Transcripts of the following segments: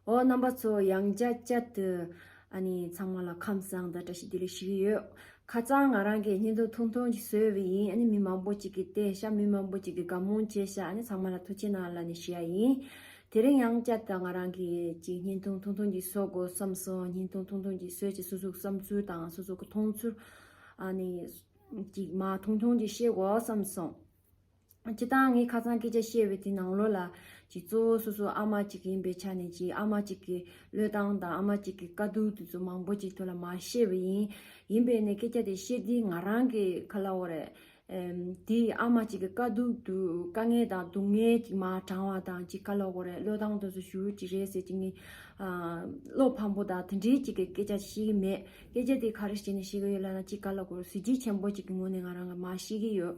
འོ། རྣམ་པ་ཚོ་ཡང་བསྐྱར་བསྐྱར་དུ། ཨ་ནི་ཚང་མ་ལ་ཁམས་བཟང་དང་བཀྲ་ཤིས་བདེ་ལེགས་ཞུ་གི་ཡོད། ཁ་རྩང་ང་རང་གིས་སྙན་ཐུང་ཐུང་ཐུང་ཅིག་བཟོས་བ་ཡིན་ཨ་ནི་མི་མང་པོ་ཅིག་གིས་བལྟས་ཤག་མི་མང་པོ་ཅིག་གིས་དགའ་མོ་བྱས་ཤག་ཨ་ནི་ཚང་མ་ལ་ཐུགས་ཆེ་གནང་ལ་ནི་ཞུ་ཡ་ཡིན། དེ་རིང་ཡང་བསྐྱར་དུ་ང་རང་གིས་ཅིག་སྙན་ཐུང་ཐུང་ཐུང་ཅིག་བཟོ་དགོས་བསམ་སོང་སྙན་ཐུང་ཐུང་ཐུང་ཅིག་བཟོས་ཅིག་སོ་སོའི་བསམ་ཚུལ་དང་སོ་སོ་གི་མཐོང་ཚུལ། ཨ་ནི། ཅིག་མ་ཐུང་ཐུང་ཅིག་བཤད་དགོས་བསམ་སོང། ཅི་སྟངས་ངའི་ཁ་རྩང་སྐད་ཆ་བཤད་པའི་དེ་ནང་ལོགས་ལ་ཅིག་གཙོ་བོ་སོ་སོ་ཨ་མ་གཅིག་ཡིན་པའི་ཆ་ནས་ཅིག་ཨ་མ་གཅིག་གི་བློས་བཏང་དང་ཨ་མ་གཅིག་གི་དཀའ་སྡུག་དེ་ཚོ་མང་པོ་ཅིག་ཐོས་ལ་མ་ཤེས་པ་ཡིན། ཡིན་པས་ནས་སྐད་ཆ་དེ་བཤད་དུས་ང་རང་གི་ཁ་ལ་འོ་རེད། དེ་ཨ་མ་གཅིག་གི་དཀའ་སྡུག་དུ་དཀའ་ངལ་དང་སྡུག་བསྔལ་ཅིག་མ་དྲང་བ་དང་ཅིག་ཁ་ལོག་གོ་རེད་བློས་བཏང་དོན་སོ་ཞུ་ཅིག་རེད་ཟེར་ཅིག་ནི། བློ་ཕམ་པོ་དང་དེ་འདྲའི་ཅིག་གི་སྐད་ཆ་བཤད་ཀྱི་མེད། སྐད་ཆ་དེ་ག་རེ་བྱས་ནས་བཤད་ཀྱི་ཡོད་ལབ་ན་ཅིག་ཁ་ལོག་གོ་རེད་གཟི་བརྗིད་ཆེན་པོ་ཅིག་གི་ངོས་ནས་ང་རང་གིས་མ་ཤེས་ཀྱི་ཡོད།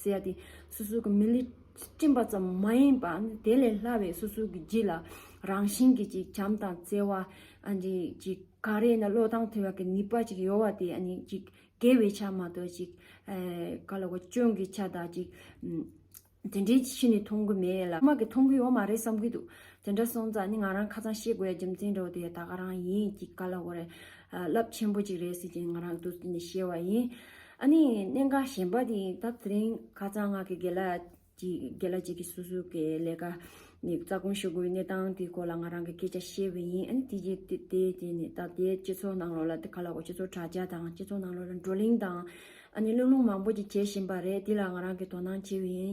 ཟེར་ཏེ། སོ་སོ་གི་མི་ལུས་སྤྲིན་པ་ཙམ་མ་ཡིན་པ་དེ་ལས་སླ་བའི་སོ་སོ་གི་རྒྱུད་ལ་རང་བཞིན་གྱི་ཅིག་བྱམས་དང་བརྩེ་བ། ཅིག་ག་རེ་ན་བློས་བཏང་ཐོས་པ་གི་ནུས་པ་ཅིག་ཡོད་བ་དེ་ཅིག་དགེ་བའི་ཆ་མ་གཏོགས་ཅིག་ག་ལ་བ་སྐྱོན་གྱི་ཆ་དག་ཅིག་དེ་འདྲའི་ཕྱི་ནས་མཐོང་གི་མེད་ལ། སྔགས་ཀྱི་མཐོང་གི་ཡོད་མ་རེད་བསམ་གྱི་འདུག་དེ་འདྲ་སོང་ཙང་ནི་ང་རང་ཁ་ཚང་ཤེས་དགོས་ཡ་རྒྱུ་མཚན་འགྲོ་དེ་ད་ག་རང་ཡིན་ཅིག་ག་ལ་བ་རེད་རླབས་ཆེན་པོ་ཅིག་རེད་ཟེར་གྱི་ང་རང་དུ་ནས་ཤེས་བ་ཡིན། ཨ་ནི་གནད་འགག་གཞན་པ་ནི་སྐབས་དེ་རིང་ཁ་རྩང་ངག་གི་དགེ་ལ་དགེ་ལ་གཅིག་གིས་སུ་སུ་གི་ལས་ཀ་ནི་རྩ་དགོངས་ཞུ་དགོས་གནས་སྟངས་དེའི་སྐོར་ལ་ང་རང་གི་སྐད་ཆ་བཤད་བས་ཡིན་ཨ་ནི་དེ་རྗེས་དེ་དེ་ནི་ད་ལྟའི་སྤྱི་ཚོགས་ནང་ལོགས་ལ་དེ་ག་ལ་གོ་སྤྱི་ཚོགས་དྲ་རྒྱ་དང་སྤྱི་ཚོགས་ནང་ལོགས་ལ་བགྲོ་གླེང་དང་ཨ་ནི་གླེང་སློང་མང་པོ་ཅིག་བྱེད་བཞིན་པ་རེད་དེ་ལ་ང་རང་གིས་དོ་སྣང་བྱེད་བས་ཡིན་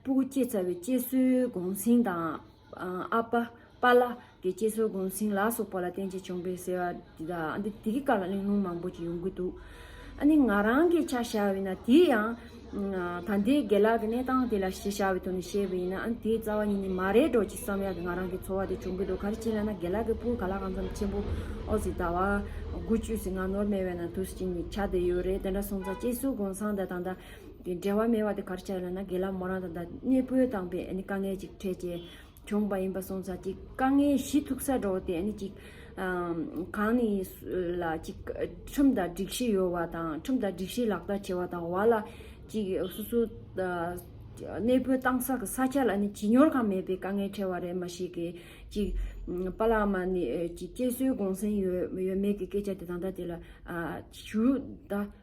སྤུ་གུ་སྐྱེས་ཚ་བའི་སྐྱེ་སྲོལ་གོང་སྲིང་དང། ཨ་པ། པ་ལ། གི་སྐྱེ་སྲོལ་གོང་སྲིང་ལ་སོགས་པ་ལ་བརྟེན་ཅིང་བྱུང་བས་ཟེར་བ་འདི་དག་ཨ་འདི་གི་སྐབས་ལ་གླེང་སློང་མང་པོ་ཅིག་ཡོང་གི་འདུག་ཨ་ནི་ང་རང་གིས་ཆ་བཞག་བས་ན་དེའི་ཡང། ད་ལྟའི་དགེ་ལགས་ཀྱི་གནས་སྟངས་དེ་ལ་ཞེས་བྱ་བའི་དོན་ནི་བཤད་པ་ཡིན་ན་ཨ་ནི་དེའི་རྩ་བ་ཉིད་ནི་མ་རེད་འགྲོ་ཅིག་བསམ་ཡག་གི་ང་རང་གི་འཚོ་བ་དེ་བྱུང་གི་འདུག་ག་རེ་བྱས་ན་ན་དགེ་ལགས་ཀྱི་སྤུ་ག་ལ་གང་འཚམ་ཆེན་པོ་ཨོ་ཟི་ད་བ་དགུ་བཅུ་ཟིག་ང་ནོར་མེད་བས་ན་དུ་ཟིག་ཅིག་ནི་ཆ་དེ་ཡོད་རེད་དེ་འདྲ་སོང་ཙང་སྐྱེ་སྲོལ་གོང་སང་དེ་དང་ད། དེ་འབྲེལ་བ་མེད་པ་དེ་གར་བྱས་ལ་ན་དགེ་ལ་མོ་རང་དང་ད་གནས་སྤོས་དང་པའི་དཀའ་ངལ་ཅིག་འཕྲད་ཅེས་བྱུང་བ་ཡིན་པ་སོང་ཚར་གཅིག་དཀའ་ངལ་བཞི་ཐུག་ས་འགྲོ་དེ་གཅིག་གང་ནི་ལ་གཅིག་ཁྲིམས་དང་སྒྲིག་གཞི་ཡོད་བ་དང་ཁྲིམས་དང་སྒྲིག་གཞི་ལག་བསྟར་བྱེད་བ་དང་བ་ལ་གཅིག་སོ་སོ་གནས་སྤོས་བཏང་ས་གི་ས་ཆ་ལ་ནི་བྱིས་གཉོར་ཁང་མེད་པའི་དཀའ་ངལ་འཕྲད་བ་རེད་མ་ཞིག་གིས་གཅིག་པ་ལགས་མ་ནི་གཅིག་སྐྱེས་སྲོལ་དགོངས་སེང་ཡོད་མེད་ཀྱི་སྐད་ཆ་དེ་ད་ལྟ་དེ་ལ་ཞུ་ད།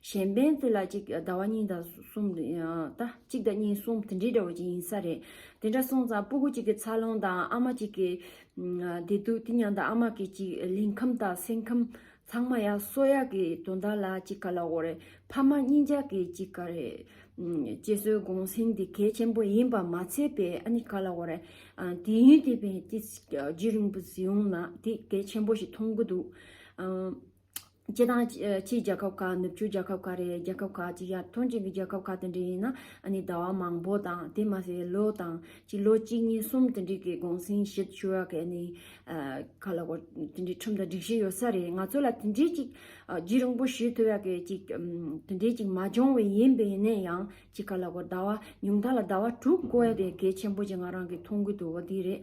གཞན་ཕན་ཚུན་ལ་གཅིག་ཟླ་བ་གཉིས་དང་གསུམ། གཅིག་ཟླ་གཉིས་གསུམ་དེ་འདྲའི་འདྲ་བ་ཅིག་ཡིན་ས་རེད། དེ་འདྲ་སོང་ཙང་སྤུ་གུ་གཅིག་གི་འཚར་ལོངས་དང་ཨ་མ་གཅིག་གི་བདེ་སྡུག་དེ་མྱང་དང་ཨ་མ་གི་གཅིག་གླིང་ཁམས་དང་སེམས་ཁམས་ཚང་མ་ཡང་སོ་ཡག་གི་དོན་དག་ལ་གཅིག་ག་ལ་འོ་རེད་ཕ་མ་གཉིས་ཅག་གི་གཅིག་ག་རེད། གཅེས་སྲོལ་དགོངས་ཟིན་དེ་གལ་ཆེན་པོ་ཡིན་པ་མ་ཚད་པས་ཨ་ནི་ག་ལ་འོ་རེད། དུས་ཡུན་དེ་བས་ཀྱི་རྗེས་རིང་པོ་བཟི་ཡོང་ན་དེ་གལ་ཆེན་པོ་ཞིག་མཐོང་གི་འདུག། སྤྱི་དང། ཕྱིའི་རྒྱལ་ཁབ་ཁག་ནུབ་ཕྱོགས་རྒྱལ་ཁབ་ཁག་རེད་རྒྱལ་ཁབ་ཁག་ཅིག་ཡར་ཐོན་ཅན་གྱི་རྒྱལ་ཁབ་ཁག་དེ་འདྲ་ཡིན་ན་ཟླ་བ་མང་པོ་དང་དེ་མ་ཟད་ལོ་དང། ལོ་གཅིག་གཉིས་གསུམ་དེ་འདྲའི་གི་གུང་སེང་བཞི་བཅུ་ར་གའི་ནི། ག་ལ་གོ་དེ་འདྲའི་ཁྲིམས་དང་སྒྲིག་གཞི་ཡོད་ས་རེད་ང་ཚོ་ལ་དེ་འདྲའི་ཅིག་རྒྱུས་རིང་པོ་ཞུས་ཐུབ་ཡ་གི་ཅིག་དེ་འདྲའི་ཅིག་མ་འབྱུང་བའི་ཡིན་པའི་ནས་ཡང་ཅིག་ག་ལ་གོ་ཟླ་བ་ཉུང་མཐའ་ལ་ཟླ་བ་དྲུག་གོ་ཡ་དེ་གལ་ཆེན་པོ་ཅིག་ང་རང་གི་མཐོང་གི་འདུག་བ་དེ་རེད།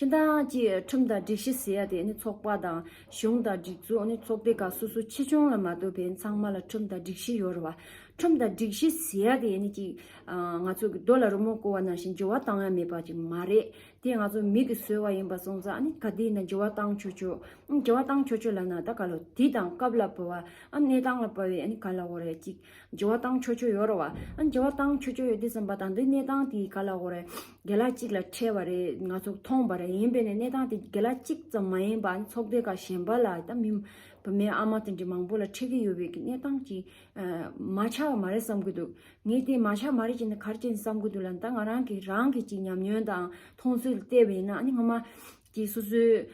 སྤྱི་འཐུས་ཁྲིམས་དང་སྒྲིག་གཞི་ཟེར་ཡ་དེ་ནི་ཚོགས་པ་དང་གཞུང་དང་སྒྲིག་འཛུགས་ནི་ཚོགས་སྡེ་ཁག་སོ་སོ་ཆེ་ཆུང་ལ་མ་ལྟོས་པའི་ཚང་མ་ལ་ཁྲིམས་དང་སྒྲིག་གཞི་ཡོད་རེད་བ། ཁྲིམས་དང་སྒྲིག་གཞི་ཟེར་ཡ་དེ་ནི་གཅིག་ང་ཚོ་གི་རྡོ་ལ་རོལ་མོ་བསྐོར་བ་ནང་བཞིན་འགྱུར་བ་བཏང་ཡ་མེད་པ་ཅིག་མ་རེད་དེ་ང་ཚོ་མི་གི་སོལ་བ་ཡིན་པ་སོང་ཙང་ནི་ག་དེ་ཡིན་ན་འགྱུར་བ་བཏང་ཆོག་ཆོག་འགྱུར་བ་བཏང་ཆོག་ཆོག་ལ་ན་ད་ག་ལོ་དུས་དང་སྐབས་ལ་བབ་བ་གནས་སྟངས་ལ་བབ་བས་ག་ལ་འོ་རེད་ཅིག་འགྱུར་བ་བཏང་ཆོག་ཆོག་ཡོད་རེད་བ་འགྱུར་བ་བཏང་ཆོག་ཆོག་ཡོད་དུས་བསམ་པ་དང་འདི་གནས་སྟངས་དེ་ག་ལ་འོ་རེད། དགེ་ལགས་གཅིག་ལ་ཁྲེལ་བ་རེད་ང་ཚོ་མཐོང་པ་རེད་ཡིན་པས་ན་གནས་སྟངས་དེ་དགེ་ལགས་གཅིག་ཙམ་མ་ཡིན་པར་ཚོགས་སྡེ་ཁག་གཞན་པ་ལ་ད་མི་བུ་མེད་ཨ་མ་དེ་འདྲའི་མང་པོ་ལ་ཁྲེལ་གྱི་ཡོད་པའི་གནས་སྟངས་ཀྱི་མ་ཆགས་པ་མ་རེད་བསམ་གྱི་འདུག་ངས་དེ་མ་ཆགས་མ་རེད་ཅེས་ནི་གར་བཅད་ནས་བསམ་གྱི་འདུག་ལ་ད་ང་རང་གིས་རང་གིས་ཅིག་ཉམས་མྱོང་དང་མཐོང་ཚུལ་བལྟས་པ་ཡིན་ན་ཨ་ནི་ངོ་མ་ཀྱི་སོ་སོའི།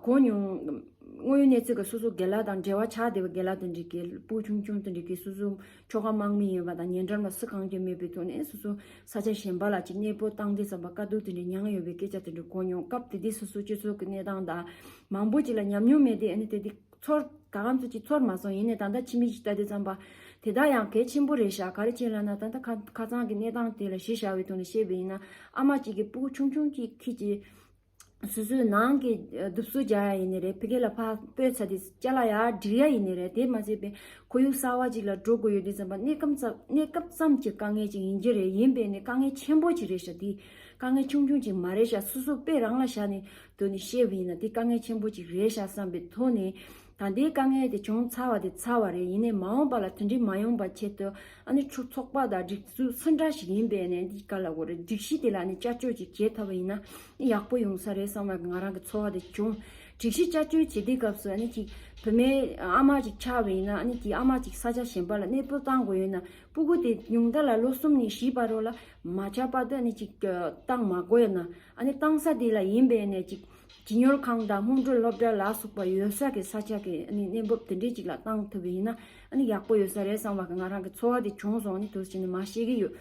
གོ་མྱོང། དངོས་ཡོད་གནས་ཚུལ་གྱི་སོ་སོ་དགེ་ལ་དང་འབྲེལ་བ་ཆགས་བསྡད་པའི་དགེ་ལ་དང་འགྲིག་གི་པོ་ཆུང་ཆུང་དང་འགྲིག་གི་སོ་སོའི་ཁྱོ་ག་དམག་མི་ཡིན་པ་དང་ཉེ་འགྲམ་ལ་སུ་གང་རྒྱུ་མེད་པའི་ཐོག་ནས་སོ་སོའི་ས་ཆ་གཞན་པ་ལ་ཅིག་གནས་སྤོ་བཏང་རྒྱུ་ཙམ་པ་དཀའ་སྡུག་དེ་འདྲའི་མྱངས་ཡོད་པའི་སྐད་ཆ་དེ་འདྲ་གོ་མྱོང་སྐབས་དེ་དུས་སོ་སོའི་སྤྱི་ཚོགས་ཀྱི་གནས་སྟངས་དང། མང་པོ་ཅིག་ལ་ཉམས་མྱོང་མེད་དུས་ཨ་ནི་དེ་དུས་ཚོར་ད་གམ་ཚོད་ཅིག་ཚོར་མ་སོང་ཡིན་ནའི་ད་ལྟ་ཕྱི་མིག་ཅིག་བལྟ་དུས་ཙམ་པ་དེ་དག་ཡང་གལ་ཆེན་པོ་རེད་ཤག་ག་རེ་བྱས་ལབ་ན་ད་ལྟ་ཁ་ཚང་གི་གནས་སྟངས་དེ་ལ་གཞི་བཞག་པའི་ཐོག་ནས་བཤད་པ་ཡིན་ན་ཨ་མ་གཅིག་གི་པོ་ཆུང་ཆུང་གཅིག་ཁྱེད་ཀྱི་སོ་སོའི་ནང་གི་གདུབ་གསོལ་རྒྱག་ཡ་ཡི་ནི་རེད་ཕི་གེ་ལ་ཕག་སྤོས་ཚ་དེ་སྐྱ་ལ་ཡག་འདྲིལ་ཡ་ཡི་ནི་རེད་དེ་མ་ཚད་པའི་ཁོར་ཡུག་གསར་བ་ཅིག་ལ་འགྲོ་དགོས་ཡོད་དུས་ཙམ་པ་གནས་སྐབས་ཙམ་གྱི་དཀའ་ངལ་ཅིག་ཡིན་གྱི་རེད་ཡིན་པས་ནི་དཀའ་ངལ་ཆེན་པོ་ཅིག་རེད་ཤག་དེ་དཀའ་ངལ་ཆུང་ཆུང་ཅིག་མ་རེད་ཤག་སོ་སོ་པས་རང་ལ་ཤག་ནི་དོན་ནི་ཤེས་བས་ཡིན་ན་དེ་དཀའ་ངལ་ཆེན་པོ་ཅིག་རེད་ཤག་བསམ་པའི་ཐོག་ནས་ད་ལྟའི་དཀའ་ངལ་དེ་བྱུང་ཚར་བ་དེ་ཚར་བ་རེད་ཡིན་ནའི་མ་འོངས་པ་ལ་དོན་འགྲིག་མ་ཡོང་པ་ཆེད་དུ་ཨ་ནི་ཁྱོད་ཚོགས་པ་དང་སྒྲིག་འཛུགས་སུ་འདྲ་ཞིག་ཡིན་པས་ནས་འདི་ག་ལ་དགོས་རེད་སྒྲིག་གཞི་དེ་ལ་ནི་བསྐྱར་བཅོས་ཅིག་བྱེད་ཐུབ་པ་ཡིན་ན་ནི་ཡག་པོ་ཡོང་ས་རེད་བསམ་ལ་ང་རང་གི་ཚོར་བ་དེ་བྱུང། སྒྲིག་གཞི་བསྐྱར་བཅོས་བྱེད་དུས་སྐབས་སུ་ཨ་ནི་གཅིག་བུད་མེད་ཨ་མ་ཅིག་ཆགས་པ་ཡིན་ན་ཨ་ནི་དེའི་ཨ་མ་ཅིག་ས་ཆ་གཞན་པ་ལ་གནས་སྤོ་བཏང་དགོས་ཡོད་ན་སྤུ་གུ་དེ་ཉུང་མཐའ་ལ་ལོ་གསུམ་ནས་བཞི་བར་རོ་ལ་མ་ཆགས་པར་དུ་ཨ་ནི་གཅིག་བཏང་མ་དགོས་ན་ཨ་ནི་བཏང་ས་དེ་ལ་ཡིན་པས་ནས་གཅིག་བྱིས་གཉོར་ཁང་དང་སྔོན་འགྲོ་སློབ་གྲྭ་ལ་སོགས་པ་ཡོད་ས་ཀྱི་ས་ཆ་གི་གནས་བབ་དེ་འདྲའི་ཅིག་ལ་བཏང་ཐུབ་པ་ཡིན་ན་ཡག་པོ་ཡོད་ས་རེད་བསམ་བ་ང་རང་གི་འཚོ་བ་དེ་བྱུང་སོང་ནས་དུས་ཚོད་ཅིག་ནས་མ་ཤེས་ཀྱི་ཡོད།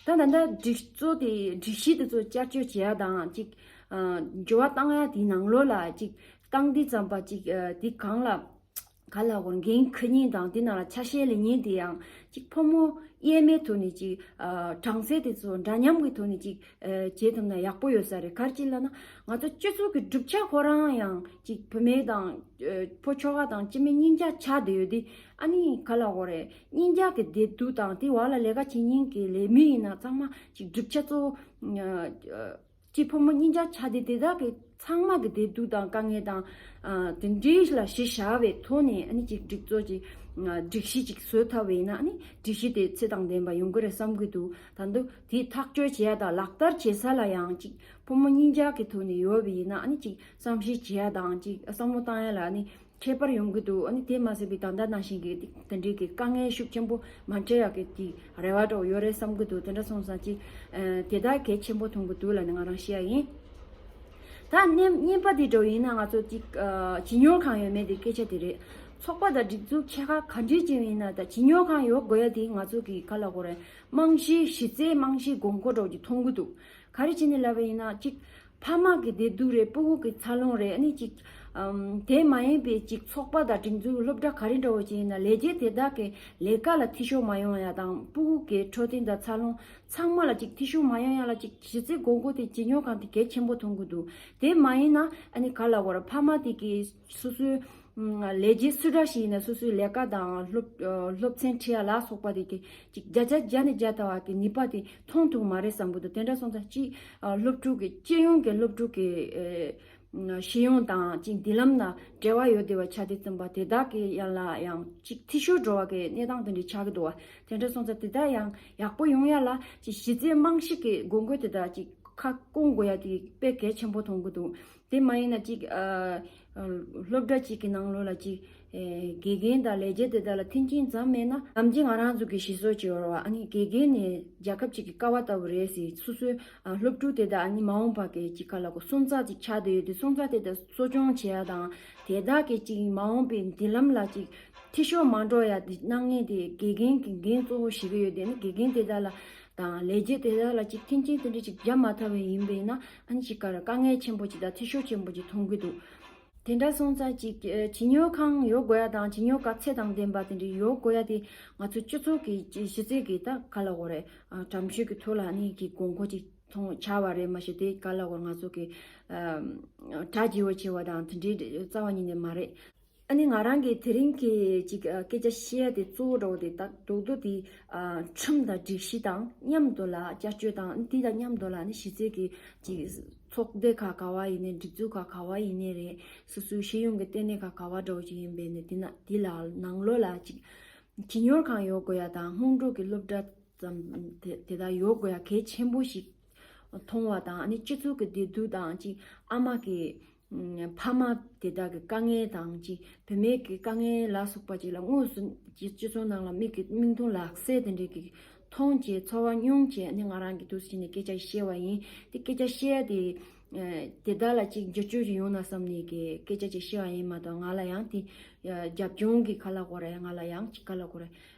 ད་ད་ལྟ་སྒྲིག་གཙོ་དེ་སྒྲིག་གཞི་དེ་ཚོ་བསྐྱར་བཅོས་བྱེད་ཡ་དང་ཅིག་འབྱོར་བ་བཏང་ཡ་དེའི་ནང་ལོ་ལ་ཅིག་བཏང་དུས་ཙམ་པ་ཅིག་དེ་གང་ལ། ག་ལ་འོང་གིན་ཁུ་ཉིན་དང་དེ་ན་ཆ་ཤས་ལེ་ཉིན་དེ་ཡང་ཅིག་ཕོ་མོ་དབྱེར་མེད་དུ་ནི་ཅིག་གྲངས་ཚད་དེ་ཚོ་འདྲ་མཉམ་གི་ཐོག་ནས་ཅིག་བྱེད་ཐུབ་ན་ཡག་པོ་ཡོད་ས་རེད་གར་གྱི་ལ་ན་ང་ཚོ་སྤྱི་ཚོགས་ཀྱི་གྲུབ་ཆ་ཁོ་རང་ཡང་ཅིག་བུ་མེད་དང་ཕོ་ཁྱོ་ག་དང་ཅི་མེད་སྙིང་རྒྱ་ཆ་དེ་ཡོད་དེ་ཨ་ནི་ག་ལ་འོང་རེད་སྙིང་རྒྱ་གི་བདེ་སྡུག་དང་དེ་བ་ལ་ལས་ཀ་བྱེད་ཉིན་གི་ལས་མི་ཡིན་ན་ཚང་མ་ཅིག་གྲུབ་ཆ་གཙོ་བོ། གཅིག་ཕོ་མོ་གཉིས་འཇག་ཆ་དེ་དེ་དག་གི་ཚང་མ་གི་བདེ་སྡུག་དང་དཀའ་ངལ་དང། དེ་འདྲའི་ལ་གཞི་བཞག་པའི་ཐོག་ནས་ཨ་ནི་གཅིག་སྒྲིག་བཙོག་ཅིག་སྒྲིག་གཞི་ཅིག་བཟོས་ཐབས་བས་ན་ཨ་ནི་སྒྲིག་གཞི་དེ་ཚེ་དང་ལྡན་པ་ཡོང་གི་རེད་བསམ་གི་འདུག་ད་དུང་དེ་ཐག་གཅོད་བྱེད་ཡ་དང་ལག་བསྟར་བྱེད་ས་ལ་ཡང་གཅིག་ཕོ་མོ་གཉིས་འཇག་གི་ཐོག་ནས་ཡོད་པ་ཡིན་ན་ཨ་ནི་གཅིག་བསམ་ཤེས་བྱེད་ཡ་དང་གཅིག་བསམ་བློ་བཏང་ཡ་ལ་ཨ་ནི་འཕྲད་པར་ཡོང་གི་འདུག་ཨཱ་ནི་དེ་མ་ཟད་པའི་ད་ལྟ་ནང་བཞིན་གྱི་དེ་འབྲེལ་གྱི་དཀའ་ངལ་ཤུགས་ཆེན་པོ་མ་འཕྲད་ཡག་གི་དེ་རེ་བ་གྲོགས་ཡོད་རེད་བསམ་གྱི་འདུག་དེ་འདྲ་སོང་ཙང་ཅིག་དེ་དག་གལ་ཆེན་པོ་མཐོང་གི་འདུག་ལ་ནི་ང་རང་ཤེས་ཡ་ཡིན། ད་བརྙན་པ་དེ་འགྲོ་ཡིན་ན་ང་ཚོ་ཅིག་བྱིས་གཉོར་ཁང་ཡོད་མེད་དེ་སྐད་ཆ་དེ་རེད། ཚོགས་པ་དང་སྒྲིག་འཛུགས་ཆེ་ཁག་ག་འདྲའི་ཅིག་ཡིན་ན་ད་བྱིས་གཉོར་ཁང་ཡོད་དགོས་ཡ་དེ་ང་ཚོ་གི་ག་ལ་གོ་རེད་རྨང་གཞིའི་གཞི་རྩའི་རྨང་གཞིའི་དགོས་མཁོ་གྲོགས་ཀྱི་མཐོང་གི་འདུག་ག་རེ་བྱས་ནས་ལབ་པ་ཡིན་ན་ཅིག་ཕ་མ་གི་བདེ་སྡུག་རེད་སྤུ་བོ་གི་འཚར་ལོངས་རེད་ཨ་ནི་ཅིག། དེ་མ་ཡིན་པའི་ཅིག་ཚོགས་པ་དང་སྒྲིག་འཛུགས་སློབ་གྲྭ་ག་རེ་འདྲ་བོ་ཅིག་ཡིན་ན་ལས་བྱེད་དེ་དག་གི་ལས་ཀ་ལ་ཐི་ཤོར་མ་ཡོང་ཡ་དང་སྤུ་བོ་གི་འཕྲོད་བསྟེན་དང་འཚར་ལོངས་ཚང་མ་ལ་ཅིག་ཐི་ཤོར་མ་ཡོང་ཡ་ལ་ཅིག་གཞི་རྩའི་དགོས་མཁོ་དེ་བྱེད་མྱོང་གང་དེ་གལ་ཆེན་པོ་མཐོང་གི་འདུག་དེ་མ་ཡིན་ན་ཨ་ནི་ག་ལ་བར་ཕ་མ་དེ་གི་སོ་སོའི་ལས་བྱེད་སུ་འདྲ་ཞིག་ཡིན་ན་སོ་སོའི་ལས་ཀ་དང་སློབ་ཚན་ཁྲིད་ཡ་ལ་སོགས་པ་དེ་གི་ཅིག་བརྒྱ་ཆ་བརྒྱ་ནས་བརྒྱ་བལྟ་བ་དེ་ནུས་པ་དེ་མཐོང་ཐུབ་མ་རེད་བསམ་གི་འདུག་དེ་འདྲ་སོང་ཙང་ཅིག་སློབ་ཕྲུག་གི་སྤྱི་ཡོངས་ཀྱི་སློབ་ཕྲུག་གི་ཤེས་ཡོན་དང་ཅིག་མདུན་ལམ་ལ་འབྲེལ་བ་ཡོད་བདེ་བའི་ཆ་དེ་བཏོན་པ་དེ་དག་གི་ཡན་ལ་ཡང་ཅིག་འཐུས་ཤོར་འགྲོ་བ་གི་གནས་སྟངས་དེ་འདྲ་ཆགས་ཀྱི་འདུག་བ་དེ་འདྲ་སོང་ཙང་དེ་དག་ཡང་ཡག་པོ་ཡོང་ཡ་ལ་ཅིག་གཞི་རྩའི་རྨང་གཞི་གི་དགོས་མཁོ་དེ་དག་ཅིག་ཁ་སྐོང་དགོས་ཡ་དེ་དཔེ་གལ་ཆེན་པོ་མཐོང་གི་འདུག་དེ་མ་ཡིན་ན་ཅིག། སློབ་གྲྭ་གཅིག་གི་ནང་ལོ་ལ་ཅིག། དགེ་རྒན་དང་ལས་བྱེད་དེ་དག་ལ་མཐུན་རྐྱེན་ཙམ་མེད་ན། ནམ་རྒྱུན་ང་རང་ཚོ་གིས་ཤི་གསོན་བྱེད་འོར་བ་ཨ་ནི་དགེ་རྒན་ནི་རྒྱལ་ཁབ་ཅིག་གི་ཀ་བ་ལྟ་བུ་རེད་ཟེར་སོ་སོའི་སློབ་ཕྲུག་དེ་དག་ཨ་ནི་མ་འོངས་པར་དེ་གཅིག་ག་ལ་དགོས་སོན་རྩ་ཅིག་ཆགས་དེ་ཡོད་དུས་སོན་རྩ་དེ་དག་གསོ་སྐྱོང་བྱེད་ཡ་དང་དེ་དག་གིས་ཅིག་མ་འོངས་པའི་མདུན་ལམ་ལ་ཅིག་འཐིས་ཤོར་མ་འགྲོ་ཡ་དེ་གནང་ངེས་དེ་དགེ་རྒན་གྱི་འགན་གཙོ་བོ་ཞིག་གི་ཡོད་དེ་ཨ་ནི་དགེ་རྒན་དེ་དག་ལ་དང་ལས་བྱེད་དེ་དག་ལ་ཅིག་མཐུན་རྐྱེན་དེ་འདྲ་ཅིག་བརྒྱབ་མ་ཐག་པའི་ཡིན་པས་ན་ཨན་ཅི་ཀར་དཀའ་ངལ་ཆེན་པོ་ཅིག་དང་འཐུས་ཤོར་ཆེན་པོ་ཅིག་མཐོང་གི་འདུག་དེ་འདྲ་སོང་ཙང་ཅིག་བྱིས་གཉོར་ཁང་ཡོད་དགོས་ཡ་དང་བྱིས་གཉོར་སྐབས་ཚད་དང་ལྡན་པ་དེ་འདྲ་ཡོད་དགོས་ཡ་དེ་ང་ཚོ་སྤྱི་ཚོགས་ཀྱི་གཞི་རྩའི་གི་ད་ག་ལ་བོར་རེད་དྲ་མཆོད་ཀྱི་ཐུགས་ལ་ནི་གི་དགོས་མཁོ་ཅིག་མཐོང་ཆ་བ་རེད་མ་གཞི་དེ་ག་ལ་བོར་ང་ཚོ་གི་དྲ་རྒྱས་བོ་ཆེ་བ་དང་དེ་འདྲའི་རྩ་བ་ཉིད་ནས་མ་རེད། ཨ་ནི་ང་རང་གིས་དེ་རིང་གི་ཅིག་སྐད་ཆ་བཤད་དེ་གཙོ་བོ་འགྲོ་བ་དེ་དག་རྡོག་རྡོག་དེ་ཁྲིམས་དང་སྒྲིག་གཞི་དང་མཉམ་དུ་ལ་བསྐྱར་བཅོས་དང་ཨ་ནི་དེ་དང་མཉམ་དུ་ལ་ནི་གཞི་རྩའི་གི་ཅིག་ཚོགས་སྡེ་ཁག་ག་བ་ཡིན་ནའི་སྒྲིག་འཛུགས་ཁག་ག་བ་ཡིན་ནའི་རེད་སོ་སོའི་ཤེས་ཡོན་གི་ལྟེ་གནས་ཁག་ག་བ་འགྲོ་བ་ཅིག་ཡིན་པས་ནི་དེ་ནས་དེ་ལ་ནང་ལོགས་ལ་ཅིག་ཁྱི་ཉོར་ཁང་ཡོད་དགོས་ཡ་དང་སྔོན་འགྲོ་གི་སློབ་གྲྭ་ཙམ་དེ་དག་ཡོད་དགོས་ཡ་གལ་ཆེན་པོ་ཞིག་མཐོང་བ་དང་ཨ་ནི་སྤྱི་ཚོགས་ཀྱི་བདེ་སྡུག་དང་ཅིག་ཨ་མ་གི། ཕ་མ་དེ་དག་གི་དཀའ་ངལ་དང་གཅིག་བུད་མེད་ཀྱི་དཀའ་ངལ་ལ་སོགས་པ་ཅིག་ལ་དངོས་སུ་སྤྱི་ཚོགས་ནང་ལ་མིག་གིས་མིག་མཐོང་ལག་ཟས་དེ་འདྲས་ཀྱིས་མཐོང་བྱས་ཚོར་བ་མྱོང་བྱས་ནས་ང་རང་གིས་དུས་སུ་ཕྱིན་ནས་སྐད་ཆ་བཤད་བ་ཡིན། དེ་སྐད་ཆ་བཤད་ཡ་དེ་དེ་དག་ལ་ཅིག་བསྒྱུར་བཅོས་ཅིག་ཡོང་ན་བསམ་ནས་ཀྱི་སྐད་ཆ་ཅིག་བཤད་བ་ཡིན་མ་གཏོགས་ང་ལ་ཡང་དེ་རྒྱབ་ལྗོངས་ཀྱི་ཁ་ལ་གོ་རེ་ང་ལ་ཡང་ཅིག་ཁ་ལ་གོ་རེ།